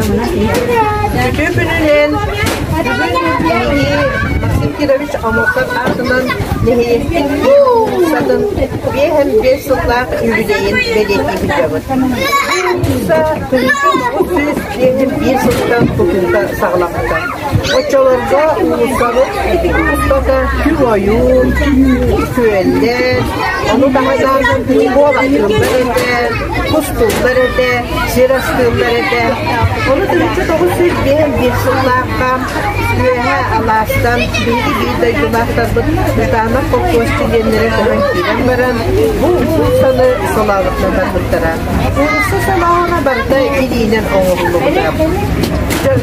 Үтүө күнүнэн Максим Кирович Омоктов аатынан нэһилиэктин устатын биэһэн биэс сыллаах юбилейин бэлиэтиибит сүүс биэһин биир сылтан тутуута саҕаламмыта. Оччолорго уулуссабыт Тото ойуун, сүөллэр, ону таһынан буолатыыллар этэ, кустууллар этэ, сир астыыллар этэ. Ону тыһыынча тоҕус сүүс биэс биир сыллаахха үөһэ алаастан биһиги биир дойдулаахтарбыт Бытанов колхозчу диэннэрэ көһөн киирэн баран, бу уустаны солообуттан барбыттара. Уруксу салааҕа барда илиинэн оҥоһуллубута.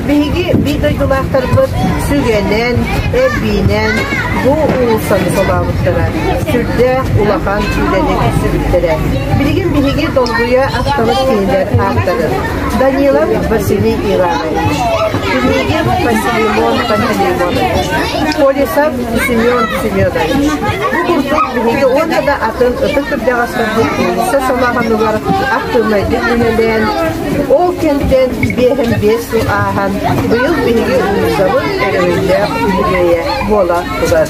Биһиги биир дойдулаахтарбыт сүгэнэн, эрбиинэн бу уулуссаны солообуттара. Сүрдээх улахан үлэни сүрүттэрэ. Билигин биһиги долгуйа ахтабыт кинилэр ааттарын Данилов Василий Иванович, Княгин Пантелеймон Пантелеймонович, Полисов Семен Семенович. Бу курдук биһиги уонна да атын ытык түрдэҕэстэрбит киинсэ самаҕанылар актыыбынайдык үлэлээн, ол кэмтэн биэһэн биэс сыл ааһан, быйыл биһиги уулуссабыт өрөһүллээх үбүлүөйэ буола турар.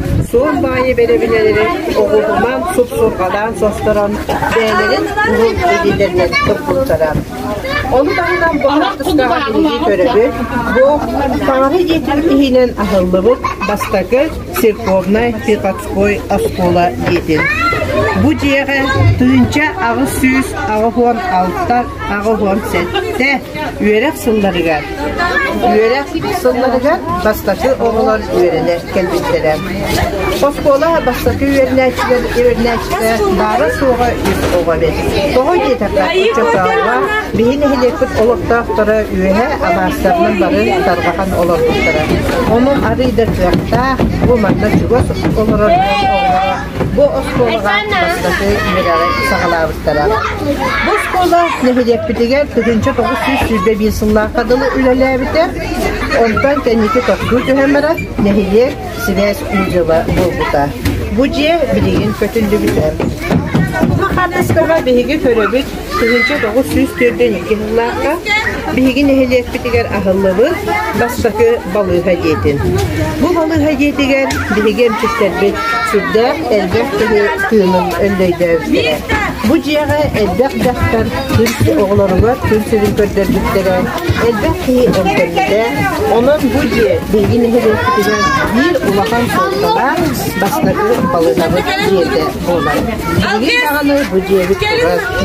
суон баайы бэрэбинэлэрин оҕуһуман супсурҕалаан состорон бэйэлэрин уһун илиитэринэн курбуттара. Ону таһынан бу хаартыскаҕа биһирии көрөбүт, бу Саҥара ийэтин иһинэн аһыллыбыт бастакы церковнай Тихотской оскуола диэтин. Бу дьиэҕэ тыынча аҕыс сүүс аҕыс уон алта аҕыс уон сэттэ үөрэх сылларыгар Үөрэх сылларыгар бастакы оҕолор үөрэнэ кэлбиттэрэ. Оскуола бастакы үөрэнээччилэр үөрэнээччитэ баара-суоҕа үп оҕо эбит. Тоҕо диэтэххэ, ыччат саалга биһи нэһилиэкпит олохтоохторо үөһэ абаастарынан бары тарҕахан олорбуттара. Омум арыый да кыахтаах, бу манна чугас олорор дьон оҕолоро Бу оскуолаҕа бастакы үөрэҕи саҕалаабыттара. Бу оскуола нэһилиэкпитигэр тыһыынча тоҕус сүүс сүүрбэ биир сыллаахха дылы үлэлээбитэ. Онтон кэнники тостуу түһэн баран нэһилиэк сибээс дьыла буолбута. Бу дьиэ билигин көтүллүбүтэ. Махалевскаҕа биһиги көрөбүт Тыһыынча тоҕус сүүс түөртэн икки сыллаахха биһиги нэһилиэкпитигэр аһыллыбыт бастакы балыыһа дьиэтин. Бу балыыһа дьиэтигэр биһиги эмчиттэрбит сүрдээх элбэх киһи тыынын өндөйдөөбүттэрэ. Бу дьиэҕэ элбэх дьахтар күн оҕолоругар күн сирин көрдөрбүттэрэ, элбэх киһи эмтэммитэ. Онон бу дьиэ биһиги нэһилиэкпитигэр биир улахан суолталаах бастакы балыыһабыт дьиэтэ. Билигин даҕаны бу дьиэбит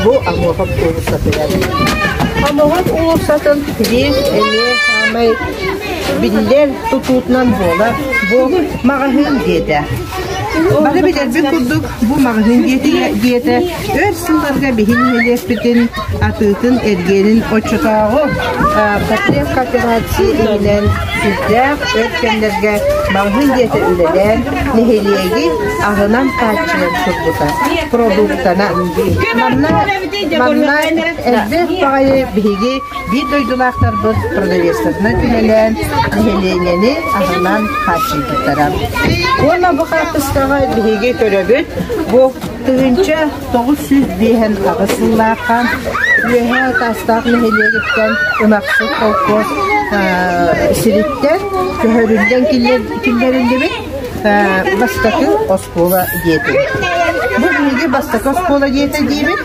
бу Амохов уулуссатыгар. Амохов уулуссатын биир эмиэ саамай биллэр тутуутунан буолар бу маҕаһыын диэтэ. Бары билэрбит курдук бу маҕаһыын диэтэ, диэтэ өр сылларга биһи нэһилиэкпитин атыытын эргиэнин оччотооҕу потреб кооперации иһинэн сүрдээх өр кэмнэргэ маҕаһыын дьиэтэ үлэлээн, нэһилиэги аһынан хааччыйан турбута продуктанан. Манна, манна элбэх баҕайы биһиги биир дойдулаахтарбыт продавецтарынан күнэлээн, нэһилиэнньэни аһынан хааччыйбыттара. Уонна бу хаартыскаҕа биһиги көрөбүт, бу тыһыынча тоҕус сүүс биэһэн аҕыс сыллаахха Үөһээ Таастаах нэһилиэгиттэн ынахсыт холкуос сириттэн көһөрүллэн киллэриллибит бастакы оскуола диэтин. Бу биһиги бастакы оскуола диэтэ диибит.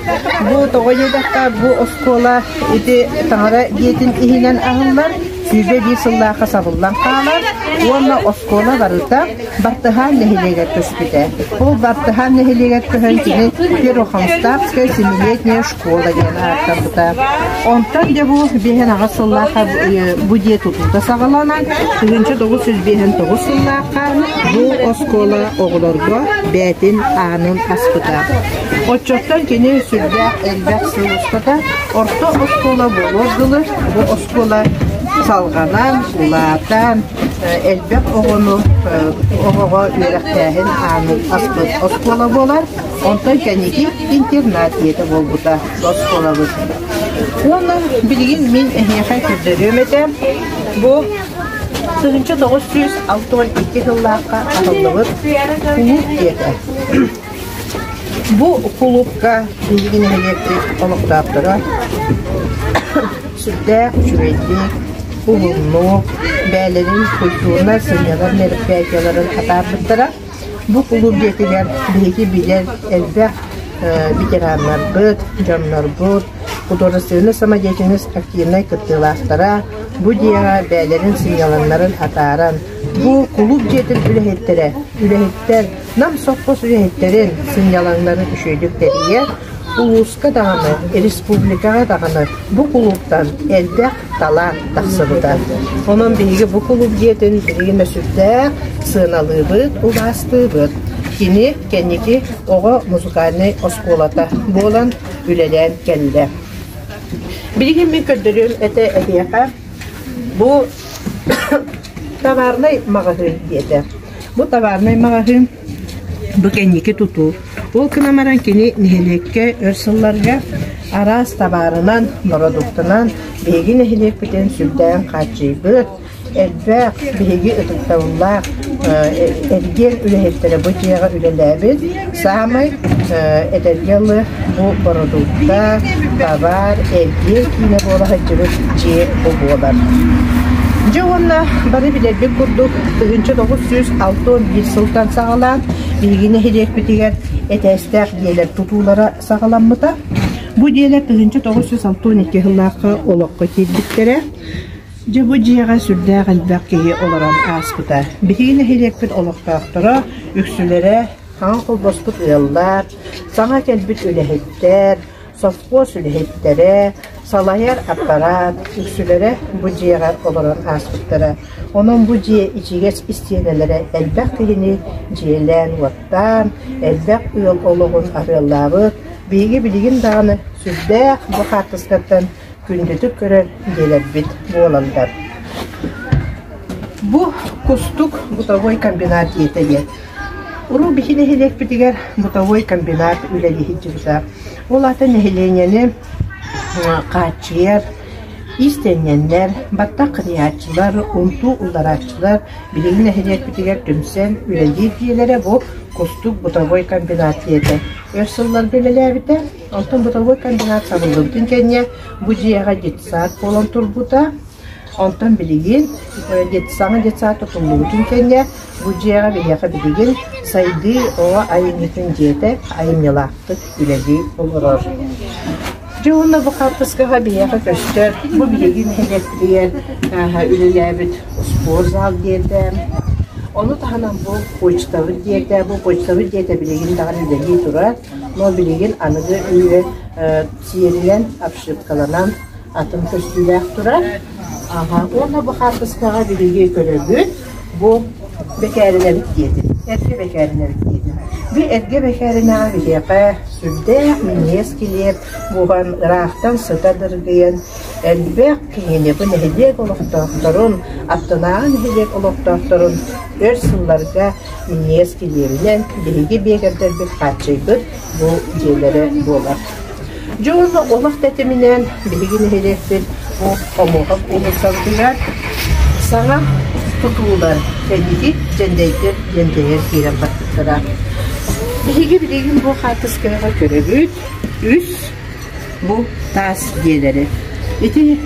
Бу тоҕо диэтэххэ бу оскуола ити таҥара диэтин иһинэн аһыллар сүүрбэ биир сыллаахха сабыллан хаалар уонна оскуола барыта Бартыһаан нэһилиэгэр көспүтэ. Ол Бартыһаан нэһилиэгэр көһөн кини Первохоҥстаах семилетняя школа диэн ааттаммыта. Онтон дьэ бу биэһин-аҕыс сыллаахха бу дьиэ тутуута саҕаланан, тыһыынча тоҕус жүз биэһин тоҕус сыллаахха бу оскуола оҕолорго бээтин аанын аспыта. Оччоттон кини сүрдээх элбэх сыл устата орто оскуола буолуор дылы бу оскуола салҕанан, улаатан, элбэх оҕону оҕоҕо үөрэхтээһин аанын аспыт оскуола буолар. Онтон кэнники интернат ийэтэ буолбута оскуолабыт. Уонна билигин мин эһиэхэ көрдөрүөм этэ. Бу тыһыынча тоҕус сүүс алтан икки сыллаахха аһыллыбыт кулууп ийэтэ. Бу кулуупка биһиги нэһилиэкпит олохтоохторо сүрдээх үчүгэйдик, уһуннук, бэйэлэрин культурнай сынньалаҥ мероприятиеларын атаарбыттара. Бу кулууп дьиэтигэр биһиги билэр элбэх ветераннарбыт, дьоннорбут, художественнай самодеятельность активнай кыттыылаахтара бу дьиэҕэ бэйэлэрин сынньалаҥнарын атааран, бу кулууп дьиэтин үлэһиттэрэ, үлэһиттэр Нам сопхуос үлэһиттэрин сынньалаҥнарын үчүгэйдик тэрийэ, улууска даҕаны, республикаҕа даҕаны бу кулууптан элбэх талаан тахсыбыта. Онон биһиги бу кулууп дьиэтин билигин да сүрдээх сыаналыыбыт, убаастыыбыт. Кини кэнники оҕо музыкальнай оскуолата буолан үлэлээн кэллэ. Билигин мин көрдөрүüm этэ эһиэхэ, бу товарнай маҕаһыын диэтэ. Бу товарнай маҕаһыын бу кэнники тутуу. Ол гынан баран кини нэһилиэккэ өр сылларга араас табаарынан, бородууктанан биһиги нэһилиэкпитин сүрдээн хааччыйбыт, элбэх биһиги ытыктабыллаах эргиэн үлэһиттэрэ бу дьиэҕэ үлэлээбит. Саамай этэргэ дылы бу бородуукта, бавар, эргиэр киинэ буола сылдьыбыт дьиэ бу буолар. Дьэ уонна бары билэрбит курдук 1906 сылтан саҕалаан биһиги нэһилиэкпитигэр этээстээх дьиэлэр тутуулара саҕаламмыта. Бу дьиэлэр 1962 сыллаахха олоххо киирбиттэрэ. Дьэ бу дьиэҕэ сүрдээх элбэх киһи олорон ааспыта. Биһиги нэһилиэкпит олохтоохторо, үксүлэрэ хаҥа холбоспут ыаллар, саҥа кэлбит үлэһиттэр, сопхуос үлэһиттэрэ, салайар аппараат үксүлэрэ бу дьиэҕэ олорон ааспыттара. Онон бу дьиэ ичигэс истиэнэлэрэ элбэх киһини дьиэлээн-уоттаан, элбэх ыал олоҕун арыаллаабыт. Биһиги билигин даҕаны сүрдээх бу хаартыскаттан күндүтүк көрөр дьиэлэрбит буолаллар. Бу Кустук бытовой комбинат диэтэ диэн. Уруу биһи нэһилиэкпитигэр бытовой комбинат үлэлиһиттибита. Ол ата нэһилиэнньэни хааччыйар иистэнньэннэр, баттах кыныйааччылар, унтуу уларааччылар биһиги нэһилиэкпитигэр түмсэн үлэлиир дьиэлэрэ бу Кустук бытовой комбинат диэтэ. Өр сылларга үлэлээбитэ Онтон бытовой кандидат табыллыбытын кэннэ бу дьиэҕэ детсад буолан турбута. Онтон билигин детсаҥа детсад тутуллубутун кэннэ бу дьиэҕэ биһиэхэ билигин сайдыы оҕо айымньытын дьиэтэ айымньылаахтык үлэлии олорор. Дьэ уонна бу хаартыскаҕа биһиэхэ көстөр бу билигин нэһилиэктийэр үлэлээбит спортзал диэтэ. Ону таһынан бу почтабыт диэтэ, бу почтабыт диэтэ билигин даҕаны үлэлии турар. Ол билигин аныгы үйэ сиэринэн обшивкаланан атын көстүүлээх турар. Аха, уонна бу хаартыскаҕа биһиги көрөбүт, бу бэкээринэбит диэтин, эргэ бэкээринэбит диэтин. Би эргэ бэкээринэҕэ биһиэхэ сүрдээх миниэс килиэп буһан, ыраахтан сыта дыргыйан, элбэх Киниэхэ нэһилиэк олохтоохторун, аттынааҕы нэһилиэк олохтоохторун өр сылларга иньиэс килиэбинэн биһиги биэкэрдэрбит хааччыйбыт бу дьиэлэрэ буолар. Дьэ уонна олох тэтиминэн биһиги нэһилиэкпит бу Омоҕох уулуссабытыгар саҥа тутуулар Эдики Дьэндэйдэр диэн дьэйэр киирэн барбыттара. Биһиги билигин бу хаартыскаҕа көрөбүт үс Бу таас дьиэлэри. Ити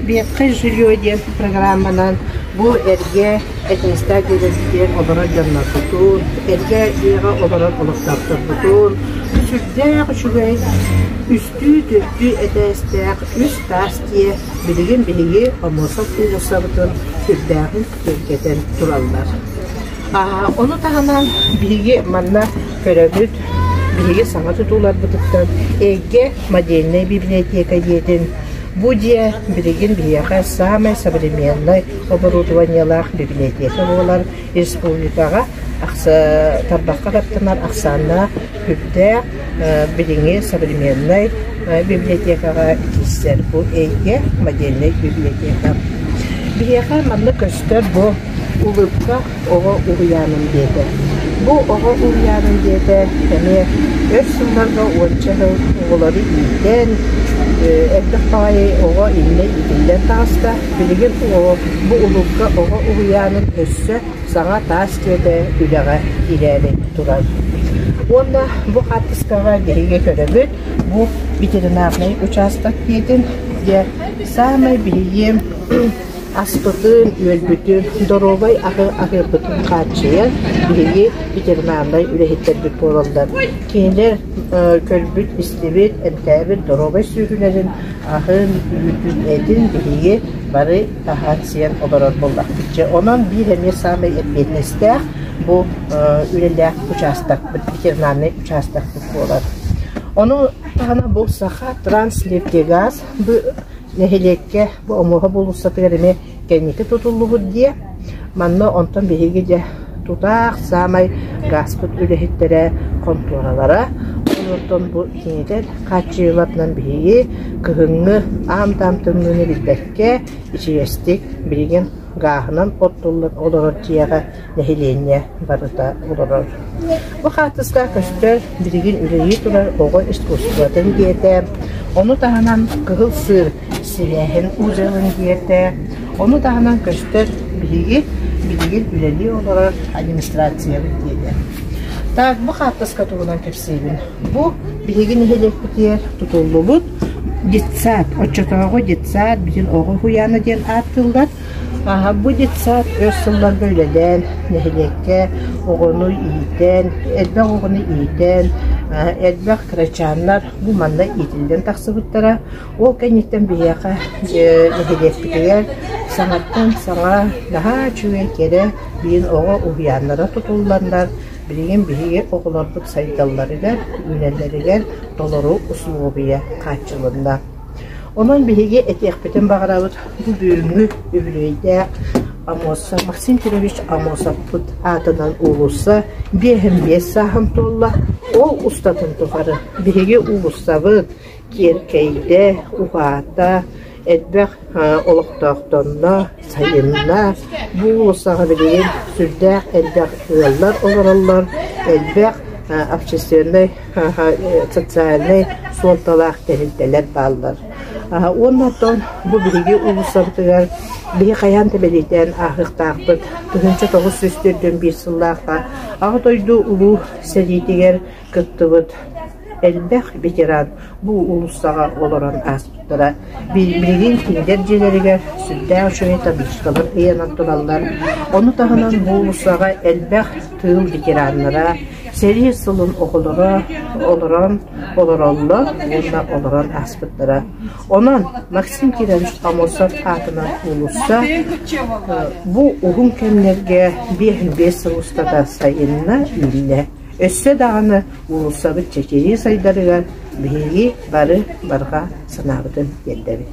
«Ветхое жилье» диэн программанан бу эргэ этностаах дьиэлэригэр олорор дьоннорбутун, эргэ дьиэҕэ олорор олохтоохторбутун, сүрдээх үчүгэй үстүү төрдүү этээстээх үс таас дьиэ билигин биһиги Омосов уулуссабытын сүрдээҕин түргэтэн тураллар. Ону таһынан биһиги манна көрөбүт, биһиги саҥа тутууларбытыттан Эйгэ модельнай бибилэтиэкэ дьиэтин бу дьиэ билигин биһиэхэ саамай современнай оборудованиелаах бибилэтиэкэ буолар республикаҕа тарбахха каттанар ахсааннаах Үрдээх билиҥҥи современнай библиотекаҕа киирсэр бу эйгэ модельнай библиотека. Биһиэхэ манна көстөр бу улыбка оҕо уһуйаанын дьиэтэ. Бу оҕо уһуйаанын дьиэтэ эмиэ өр сылларга уонча сыл оҕолору иитэн, элбэх баҕайы оҕо иннэ иитиллэн таҕыста. Билигин бу улыбка оҕо уһуйаанын өссө саҥа таас түөтэ үлэҕэ киирээри турар. Уонна бу хаартыскаҕа биһиги көрөбүт, бу ветеринарнай учаастак дьиэтин, дьэ саамай биһиги аспытын, үөлбүтүн, доруобай аһы аһыырбытын хааччыйан биһиги ветеринарнай үлэһиттэрбит буолаллар. Кинилэр көрбүт-истибит, эмтээбит доруобай сүөһүлэрин, аһын, үүтүн, этин биһиги бары аһаан-сиэн олорор буоллахпыт. Дьэ, онон биир эмиэ саамай эппиэтинэстээх бу үлэлээх учаастакпыт, ветеринарнай учаастакпыт буолар. Ону таһынан бу Саха Транснефтегаз бу нэһилиэккэ бу Омуоһа булуссатыгар эмиэ кэнники тутуллубут диэ. Манна онтон биһиги дьэ тутаах саамай гааспыт үлэһиттэрэ, хонтуоралара, онтон бу киинитэ хааччыйылатынан биһиги кыһыҥҥы аам-таам тымныыны билбэт Дьэ, ичигэстик, билигин гааһынан оттуллан олорор дьиэҕэ нэһилиэнньэ барыта олорор. Бу хаартыска көстөр билигин үлэлии турар оҕо искусствотын диэтэ, ону таһынан Кыһыл Сыыр сибээһин музейын диэтэ, ону таһынан көстөр биһиги билигин үлэлии олорор администрациябыт диэтэ. Так, бу хаартыска туһунан кэпсиибин Бу биһиги нэһилиэкпитигэр тутуллубут детсад. Оччотооҕу детсад, бүтүн Оҕо уһуйаана диэн ааттыыллар. Аһа бу детсад өс сылларга үлэлээн, нэһилиэккэ оҕону иитэн, элбэх оҕону иитэн, элбэх кырачааннар бу манна иитиллэн тахсыбыттара. Ол кэнниттэн биһиэхэ нэһилиэкпитигэр саҥаттан саҥа наһаа үчүгэй кэрэ биин оҕо уһуйааннара тутулланнар Билигин биһиги оҕолорбут сайдалларыгар, үүнэллэригэр толору усулуобуйа хааччылынна. Онон биһиги этиэхпитин баҕарабыт бу бүгүҥҥү үбүлүөйдээх Амосов Максим Петрович Амосовпут аатынан уулусса биэһин биэс сааһын туолла. Ол устатын тухары биһиги уулуссабыт, Киэркэйдэ, уһаата, элбэх олохтоохторно сайынна, бу уулуссаҕа билигин сүрдээх элбэх ыаллар олороллор, элбэх общественнай, социальнай суолталаах тэрилтэлэр бааллар. Уонна оттон бу биһиги уулуссабытыгар биһи хайаан да бэлиэтээн ааһыахтаахпыт тыһыынча тоҕус сүүс төрдүн биир сыллаахха Аҕа дойду Улуу сэриитигэр кыттыбыт элбэх ветеран бу уулуссаҕа олорон ааспыттара. Билигин кинилэр дьиэлэригэр сүрдээх үчүгэй табличкалар ыйанан тураллар. Ону таһынан бу уулуссаҕа элбэх тыыл ветераннара сэрии сылын оҕолоро олорон олороллор уонна олорон ааспыттара. Онон Максим Кирович Амосов аатынан уулусса бу уһун кэмнэргэ биэс сыл устата сайынна, үүннэ. Өссө даҕаны уулуссабыт чэчирии сайдарыгар биһиги бары барҕа санаабытын тиэрдэбит